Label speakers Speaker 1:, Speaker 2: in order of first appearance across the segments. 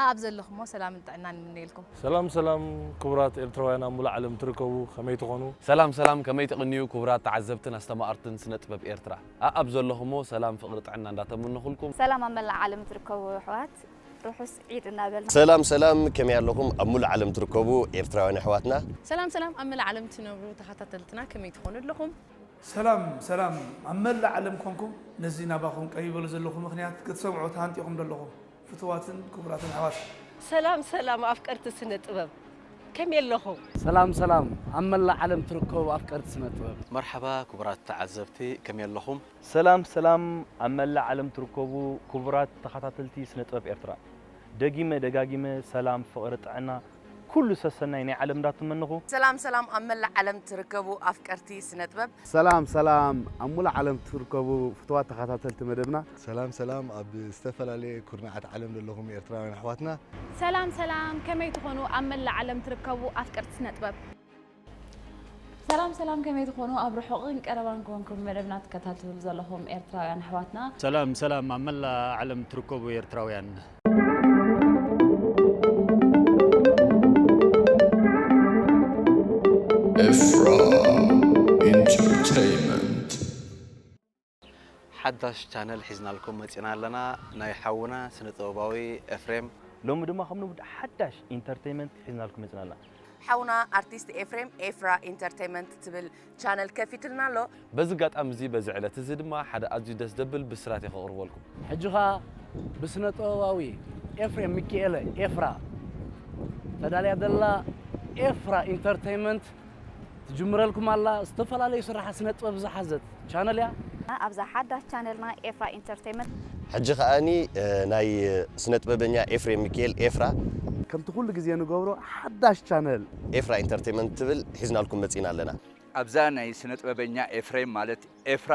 Speaker 1: ኣኣብ ዘለኹሞ ሰላምን ጥዕናን ይምነየልኩም። ሰላም ሰላም
Speaker 2: ክቡራት ኤርትራውያን ኣብ ሙሉእ ዓለም ትርከቡ ከመይ ትኾኑ። ሰላም ሰላም ከመይ ትቅንዩ
Speaker 3: ክቡራት ተዓዘብትን ኣስተማቀርትን ስነጥበብ ኤርትራ ኣኣብ ዘለኹሞ ሰላም ፍቅሪ ጥዕና እንዳተመነኹልኩም። ሰላም ኣብ መላእ ዓለም
Speaker 4: ትርከቡ ኣሕዋት ርሑስ ዒድ እናበልና። ሰላም ሰላም ከመይ
Speaker 5: ኣለኹም ኣብ ሙሉእ ዓለም ትርከቡ ኤርትራውያን ኣሕዋትና። ሰላም ሰላም ኣብ መላእ
Speaker 1: ዓለም ትነብሩ ተኻታተልትና ከመይ ትኾኑ ኣለኹም። ሰላም
Speaker 6: ሰላም ኣብ መላእ ዓለም ኮንኩም ነዚ ናባኹም ቀሪበሉ ዘለኹ ምኽንያት ክትሰምዑ ተሃንጢኹም ዶ ኣለኹም ፍቱዋትን ክቡራትን ኣሕዋት! ሰላም ሰላም
Speaker 7: ኣፍቀርቲ ስነ ጥበብ ከመይ ኣለኹም? ሰላም ሰላም
Speaker 8: ኣብ መላእ ዓለም ትርከቡ ኣፍቀርቲ ስነ ጥበብ! መርሓባ ክቡራት
Speaker 3: ተዓዘብቲ ከመይ ኣለኹም? ሰላም ሰላም
Speaker 9: ኣብ መላእ ዓለም ትርከቡ ክቡራት ተኻታተልቲ ስነ ጥበብ ኤርትራ! ደጊመ ደጋጊመ ሰላም ፍቕሪ ጥዕና ኩሉ ሰሰናይ ናይ ዓለም እንዳትመነኹ። ሰላም ሰላም ኣብ መላእ
Speaker 1: ዓለም ትርከቡ ኣፍቀርቲ ስነጥበብ። ሰላም ሰላም
Speaker 8: ኣብ ሙሉእ ዓለም ትርከቡ ፍቱዋት ተኻታተልቲ መደብና። ሰላም ሰላም ኣብ
Speaker 10: ዝተፈላለየ ኩርናዓት ዓለም ዘለኹም ኤርትራውያን ኣሕዋትና። ሰላም ሰላም
Speaker 4: ከመይ ትኾኑ ኣብ መላእ ዓለም ትርከቡ ኣፍቀርቲ ስነጥበብ። ሰላም ሰላም ከመይ ትኾኑ ኣብ ርሑቕን ቀረባን ኮንኩም መደብና ትከታተሉ ዘለኹም ኤርትራውያን ኣሕዋትና። ሰላም ሰላም ኣብ
Speaker 11: መላእ ዓለም ትርከቡ ኤርትራውያን። Efra
Speaker 12: Entertainment.
Speaker 3: ሓዳሽ ቻነል ሒዝናልኩም መጺና ኣለና ናይ ሓውና ስነ ጥበባዊ ኤፍሬም። ሎሚ ድማ ከም ልሙድ
Speaker 9: ሓዳሽ ኢንተርተይመንት ሒዝናልኩም መጺና ኣለና። ሓውና ኣርቲስት
Speaker 1: ኤፍሬም ኤፍራ ኢንተርተይመንት ትብል ቻነል ከፊትልና ኣሎ። በዚ ኣጋጣሚ እዚ በዚ
Speaker 3: ዕለት እዚ ድማ ሓደ ኣዝዩ ደስ ዘብል ብስራት እየ ከቕርበልኩም። ሕጂ ከኣ
Speaker 8: ብስነ ጥበባዊ ኤፍሬም ሚኪኤለ ኤፍራ ተዳልያ ዘላ ኤፍራ ኢንተርተይመንት ትጅምረልኩም ኣላ ዝተፈላለዩ ስራሓት ስነጥበብ ዝሓዘት ቻነል እያ። ኣብዛ ሓዳሽ
Speaker 4: ቻነልና ኤፍራ ኢንተርተይመንት። ሕጂ ከኣ
Speaker 5: ናይ ስነጥበበኛ ኤፍሬም ሚኪኤል፣ ኤፍራ፣ ከምቲ ኩሉ ግዜ
Speaker 8: ንገብሮ ሓዳሽ ቻነል። ኤፍራ ኢንተርተይመንት
Speaker 5: ትብል ሒዝናልኩም መጺእና ኣለና። ኣብዛ ናይ
Speaker 13: ስነጥበበኛ ኤፍሬም ማለት ኤፍራ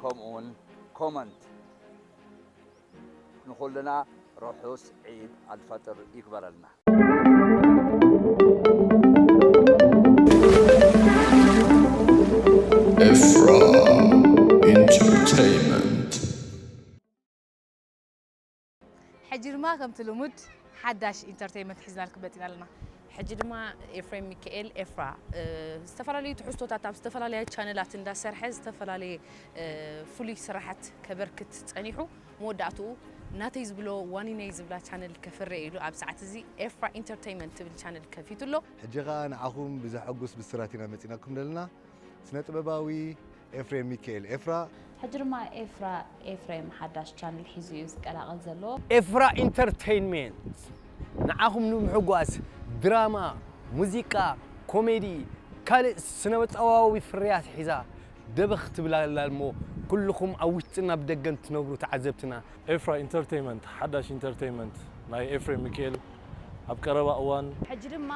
Speaker 13: ከምኡውን ኮመንት ንኹልና ርሑስ ዒድ ኣልፈጥር ይግበረልና።
Speaker 12: Efra Entertainment.
Speaker 1: ሕጂ ድማ ከምቲ ልሙድ ሓዳሽ ኢንተርተይመንት ሒዝናልኩም መጺና ኣለና። ሕጂ ድማ ኤፍሬም ሚካኤል ኤፍራ ዝተፈላለዩ ትሕዝቶታት ኣብ ዝተፈላለያ ቻነላት እንዳሰርሐ ዝተፈላለየ ፍሉይ ስራሓት ከበርክት ጸኒሑ መወዳእትኡ ናተይ ዝብሎ ዋኒነይ ዝብላ ቻነል ከፍሪ ኢዩ ኢሉ ኣብ ሰዓት እዚ ኤፍራ ኢንተርተይመንት ትብል ቻነል ከፊቱ ኣሎ። ሕጂ ከኣ ንዓኹም
Speaker 10: ብዘሐጉስ ብስራት ኢና መጺናኩም ዘለና። ስነጥበባዊ ኤፍሬም ሚኪኤል፣ ኤፍራ። ሕጂ ድማ ኤፍራ
Speaker 4: ኤፍሬም ሓዳሽ ቻነል ሒዙ እዩ ዝቀላቐል ዘሎ። ኤፍራ
Speaker 8: ኢንተርተይንሜንት ንዓኹም ንምሕጓስ ድራማ፣ ሙዚቃ፣ ኮሜዲ ካልእ ስነበጻዋዊ ፍርያት ሒዛ ደበኽ ትብል ኣላ እሞ ኩሉኹም ኣብ ውሽጥን ኣብ ደገን ትነብሩ ተዓዘብትና ኤፍራ ኢንተርተይመንት
Speaker 2: ሓዳሽ ኢንተርተይመንት ናይ ኤፍሬም ምኪኤል ኣብ ቀረባ እዋን። ሕጂ ድማ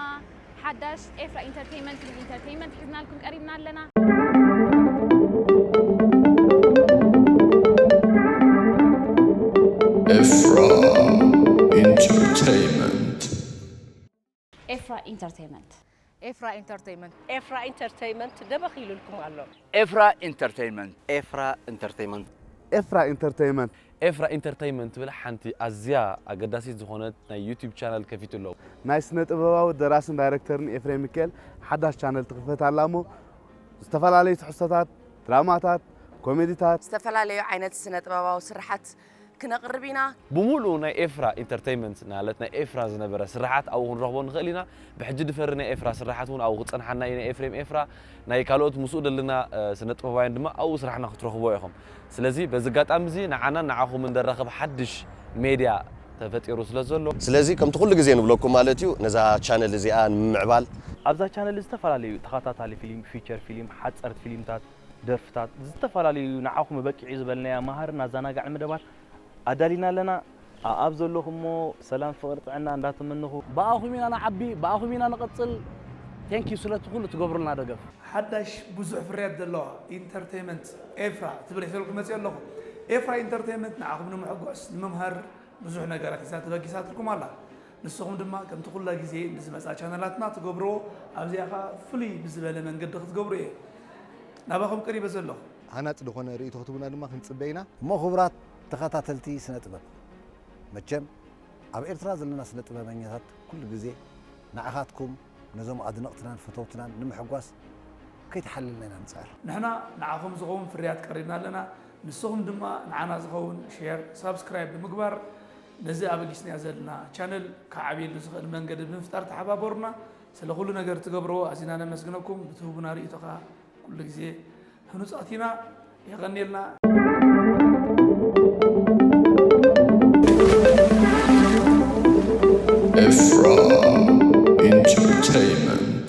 Speaker 4: ሓዳሽ ኤፍራ ኢንተርተይመንት ትብል ኢንተርተይመንት ሒዝናልኩም ቀሪብና ኣለና።
Speaker 12: ኤፍራ ኢንተርተይመንት።
Speaker 4: ኤፍራ ኢንተርተይመንት። ኤፍራ ኢንተርተይመንት።
Speaker 1: ኤፍራ ኢንተርተይመንት ደበኽ ኢሉልኩም ኣሎ።
Speaker 7: ኤፍራ
Speaker 13: ኢንተርተይመንት። ኤፍራ
Speaker 3: ኢንተርተይመንት። ኤፍራ
Speaker 8: ኢንተርተይመንት። ኤፍራ ኢንተርተይመንት
Speaker 3: ትብል ሓንቲ ኣዝያ ኣገዳሲት ዝኾነት ናይ ዩትዩብ ቻነል ከፊቱ ኣሎ። ናይ ስነ ጥበባዊ
Speaker 8: ደራስን ዳይረክተርን ኤፍሬም ሚኪኤል ሓዳሽ ቻነል ትኽፈት ኣላ እሞ ዝተፈላለዩ ትሕዝቶታት፣ ድራማታት፣ ኮሜዲታት፣ ዝተፈላለዩ ዓይነት
Speaker 1: ስነ ጥበባዊ ስርሓት ክነቕርብ ኢና። ብሙሉኡ ናይ ኤፍራ
Speaker 3: ኢንተርተይመንት ናለት ናይ ኤፍራ ዝነበረ ስርሓት ኣብኡ ክንረኽቦ ንኽእል ኢና። ብሕጂ ድፈሪ ናይ ኤፍራ ስርሓት ውን ኣብኡ ክጸንሓና እዩ ናይ ኤፍሬም ኤፍራ ናይ ካልኦት ምስኡ ደለና ስነጥበባውያን ድማ ኣብኡ ስራሕና ክትረኽብዎ ኢኹም። ስለዚ በዚ ኣጋጣሚ እዚ ንዓናን ንዓኹምን ደራኽብ ሓድሽ ሜድያ ተፈጢሩ ስለ ዘሎ። ስለዚ ከምቲ ኩሉ ግዜ
Speaker 5: ንብለኩም ማለት እዩ ነዛ ቻነል እዚኣ ንምምዕባል። ኣብዛ ቻነል
Speaker 9: ዝተፈላለዩ ተኸታታሊ ፊሊም፣ ፊቸር ፊሊም፣ ሓጸርት ፊሊምታት፣ ደርፍታት፣ ዝተፈላለዩ ንዓኹም እበቂዕ'ዩ ዝበልናያ መሃርን ኣዛናጋዕን መደባት ኣዳሊና ኣለና። ኣኣብ ዘለኹሞ ሰላም ፍቕሪ ጥዕና እንዳተመነኹ። ብኣኹም ኢና ንዓቢ
Speaker 8: ብኣኹም ኢና ንቕጽል Thank you ስለቲ ኩሉ ትገብሩልና ደገፍ። ሓዳሽ ብዙሕ
Speaker 6: ፍርያት ዘለዋ ኢንተርተይመንት ኤፍራ እትብል ሒዘልኩም መጺኦ ኣለኹ። ኤፍራ ኢንተርተይመንት ንዓኹም ንምሕጓስ፣ ንምምሃር ብዙሕ ነገራት ሒዛ ተበጊሳትልኩም ኣላ። ንስኹም ድማ ከምቲ ኩላ ግዜ ብዝመጻ ቻነላትና ትገብርዎ ኣብዚኣ ከኣ ፍልይ ብዝበለ መንገዲ ክትገብሩ እየ ናባኹም ቀሪበ ዘለኹ። ሃናጺ ዝኾነ
Speaker 10: ርእይቶ ክትህቡና ድማ ክንጽበ ኢና። እሞ ክቡራት
Speaker 14: ተኸታተልቲ ስነ ጥበብ መቸም ኣብ ኤርትራ ዘለና ስነ ጥበበኛታት ኩሉ ግዜ ንዓኻትኩም ነዞም ኣድነቕትናን ፈተውትናን ንምሕጓስ ከይተሓለልና ኢና ንጽዕር። ንሕና ንዓኹም
Speaker 6: ዝኸውን ፍርያት ቀሪብና ኣለና ንስኹም ድማ ንዓና ዝኸውን ሼር ሳብስክራይብ ብምግባር ነዚ ኣበጊስናዮ ዘለና ቻነል ክዓብየሉ ዝኽእል መንገዲ ብምፍጣር ተሓባበሩና። ስለ ኩሉ ነገር ትገብርዎ ኣዚና ነመስግነኩም። ብትህቡና ርእይቶ ከኣ ኩሉ ግዜ ህኑጻት ኢና። የቐንየልና።
Speaker 12: Efra Entertainment.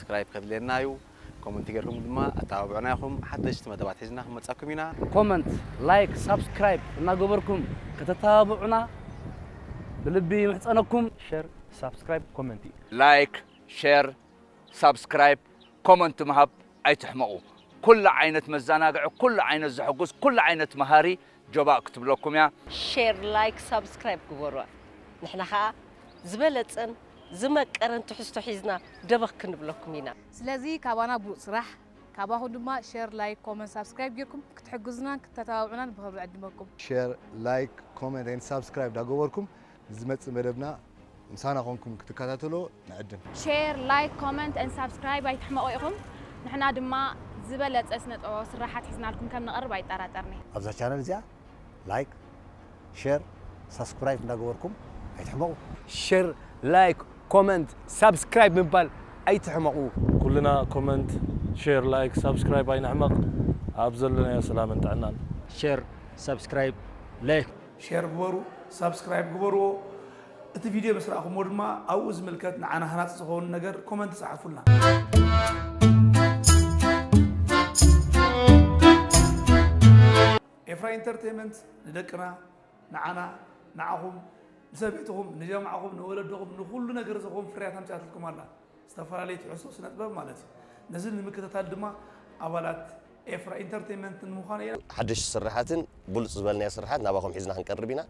Speaker 3: ሳብስክራይብ ከድልየና እዩ ኮመንቲ ጌርኩም ድማ ኣተባብዑና ኢኹም ሓደሽቲ መደባት ሒዝና ክንመጻኩም ኢና። ኮመንት ላይክ
Speaker 8: ሳብስክራይብ እናገበርኩም ከተተባብዑና ብልቢ ይምሕጸነኩም። ሸር
Speaker 9: ሳብስክራይብ ኮመንቲ። ላይክ
Speaker 13: ሸር ሳብስክራይብ ኮመንት ምሃብ ኣይትሕመቁ ኩሉ ዓይነት መዛናግዒ ኩሉ ዓይነት ዘሕጉስ ኩሉ ዓይነት መሃሪ ጆባእ ክትብለኩም እያ። ሼር ላይክ
Speaker 7: ሳብስክራይብ ግበሩዋ ንሕና ከኣ ዝበለጸን ዝመቀረን ትሕዝቶ ሒዝና ደበኽ ክንብለኩም ኢና። ስለዚ ካባና
Speaker 1: ብሉጽ ስራሕ ካባኹም ድማ ሸር ላይክ ኮመንት ሳብስክራይብ ጌርኩም ክትሕግዙናን ክተተባብዑናን ብኽብሪ ዕድመኩም። ሼር ላይክ
Speaker 10: ኮመንት ኤንድ ሳብስክራይብ ዳገበርኩም ንዝመጽእ መደብና ምሳና ኮንኩም ክትከታተሎ ንዕድም። ሼር ላይክ
Speaker 15: ኮመንት and ሳብስክራይብ ኣይትሕመቑ ኢኹም ንሕና ድማ ዝበለጸ ስነ ጥበባዊ ስራሓት ሒዝናልኩም ከም ንቐርብ ኣይጠራጠርን'የ። ኣብዛ ቻነል እዚኣ
Speaker 14: ላይክ ሼር ሳስኩራይብ እንዳገበርኩም ኣይትሕመቑ። ሸር
Speaker 8: ላይክ ኮመንት ሳብስክራይብ ምባል ኣይትሕመቑ። ኩልና
Speaker 2: ኮመንት ሼር ላይክ ሳብስክራይብ ኣይንሕመቕ ኣብ ዘለናዮ ሰላምን ጥዕናን። ሸር
Speaker 11: ሳብስክራይብ ላይክ። ሼር ግበሩ፣
Speaker 6: ሳብስክራይብ ግበርዎ፣ እቲ ቪድዮ ምስ ረኣኹምዎ ድማ ኣብኡ ዝምልከት ንዓና ሃናጺ ዝኸውን ነገር ኮመንት ጸሓፉልና። ኤፍራይ ኢንተርቴይመንት ንደቅና ንዓና ንዓኹም ንሰበይትኹም ንጀማዕኹም ንወለድኹም ንኹሉ ነገር ዝኸውን ፍርያት ኣምጺኣትልኩም ኣላ። ዝተፈላለዩ ትሕዝቶ ስነጥበብ ማለት እዩ። ነዚ ንምክትታል ድማ ኣባላት ኤፍራ ኢንተርተይመንት ንምዃን ኢና። ሓደሽቲ ስርሓትን
Speaker 5: ብሉጽ ዝበልናዮ ስርሓት ናባኹም ሒዝና ክንቀርብ ኢና።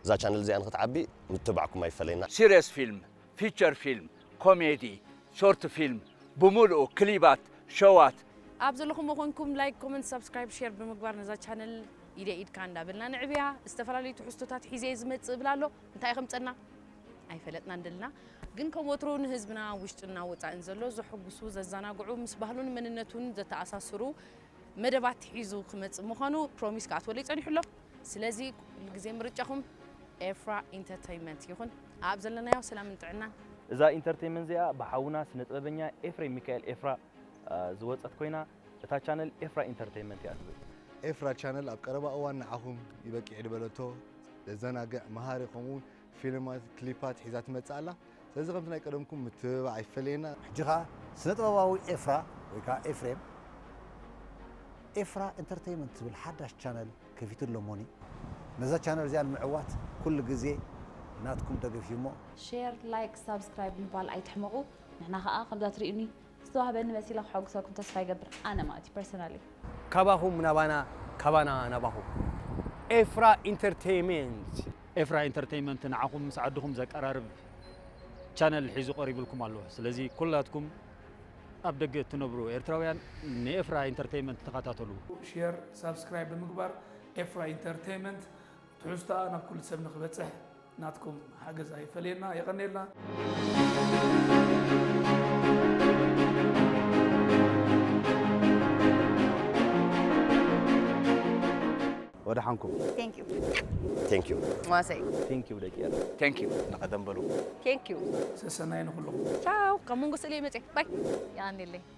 Speaker 5: እዛ ቻነል እዚኣ ንኽትዓቢ ምትብባዕኩም ኣይፈለየና። ሲርየስ ፊልም፣
Speaker 13: ፊቸር ፊልም፣ ኮሜዲ፣ ሾርት ፊልም ብሙሉኡ፣ ክሊባት፣ ሸዋት። ኣብ ዘለኹሞ
Speaker 1: ኮንኩም ላይክ ኮመንት ሳብስክራይብ ሼር ብምግባር ነዛ ቻነል ኢደይ ኢድካ እንዳበልና ንዕብያ ዝተፈላለዩ ትሕዝቶታት ሒዘ እየ ዝመጽእ እብል ኣሎ እንታይ ኢኺ ምጸና። ኣይፈለጥናን ደልና ግን ከም ወትሩ ንህዝብና ውሽጥና ወጻእን ዘሎ ዘሕጉሱ ዘዛናግዑ ምስ ባህሉን መንነቱን ዘተኣሳስሩ መደባት ሒዙ ክመጽእ ምዃኑ ፕሮሚስ ክኣትወለይ ጸኒሑ ኣሎ ስለዚ ኩሉ ግዜ ምርጫኹም ኤፍራ ኢንተርተይመንት ይኹን ኣብ ዘለናዮ ሰላምን ጥዕናን እዛ ኢንተርተይመንት
Speaker 9: እዚኣ ብሓውና ስነጥበበኛ ኤፍሬም ሚካኤል ኤፍራ ዝወጸት ኮይና እታ ቻነል ኤፍራ ኢንተርተይመንት እያ ትብል። ኤፍራ ቻነል ኣብ
Speaker 10: ቀረባ እዋን ንዓኹም ይበቂዕ'ዶ በለቶ። ዘዘናግዕ፣ መሃሪ ከምኡ'ውን ፊልማት ክሊፓት ሒዛ ትመጽእ ኣላ ስለዚ ከምቲ ናይ ቀደምኩም ምትብባዕ ኣይፈለየና። ሕጂ ከኣ
Speaker 14: ስነጥበባዊ ኤፍራ ወይ ከኣ ኤፍሬም ኤፍራ ኢንተርተይመንት ዝብል ሓዳሽ ቻነል ከፊቱ ኣሎ እሞኒ ነዛ ቻነል እዚኣ ንምዕዋት ኩሉ ግዜ ናትኩም ደገፍ እዩ እሞ ሼር ላይክ
Speaker 4: ሳብስክራይብ ምባል ኣይትሕመቁ ንሕና ከኣ ከምዛ ትሪኡኒ ዝተዋህበኒ መሲለ ከሐጉሰኩም ተስፋ ይገብር ኣነ ማለት እዩ ፐርሰናሊ። ካባኹም
Speaker 8: ናባና ካባና ናባኹም ኤፍራ ኢንተርተይመንት። ኤፍራ
Speaker 11: ኢንተርተይመንት ንዓኹም ምስ ዓድኹም ዘቀራርብ ቻነል ሒዙ ቀሪብልኩም ኣሎ ስለዚ ኩላትኩም ኣብ ደገ እትነብሩ ኤርትራውያን ንኤፍራ
Speaker 6: ኢንተርተይመንት
Speaker 11: ተኸታተሉ።
Speaker 6: ሼር ሳብስክራይብ
Speaker 11: ብምግባር
Speaker 6: ኤፍራ
Speaker 11: ኢንተርተይመንት
Speaker 6: ትሕዝቶኣ ናብ ኩሉ ሰብ ንክበፅሕ ናትኩም ሓገዝ ኣይፈለየና የቀኔልና።
Speaker 16: ወደሓንኩም Thank you
Speaker 1: Thank you
Speaker 5: ማሰይ Thank
Speaker 1: you ደቂ ኤረ
Speaker 9: Thank you ንቀደም
Speaker 13: በሉ
Speaker 3: Thank you
Speaker 7: ሰሰናይ ንኩልኹም።
Speaker 6: ቻው ካብ መንጎ
Speaker 1: ስእለይ መፅየ ባይ ያኔለይ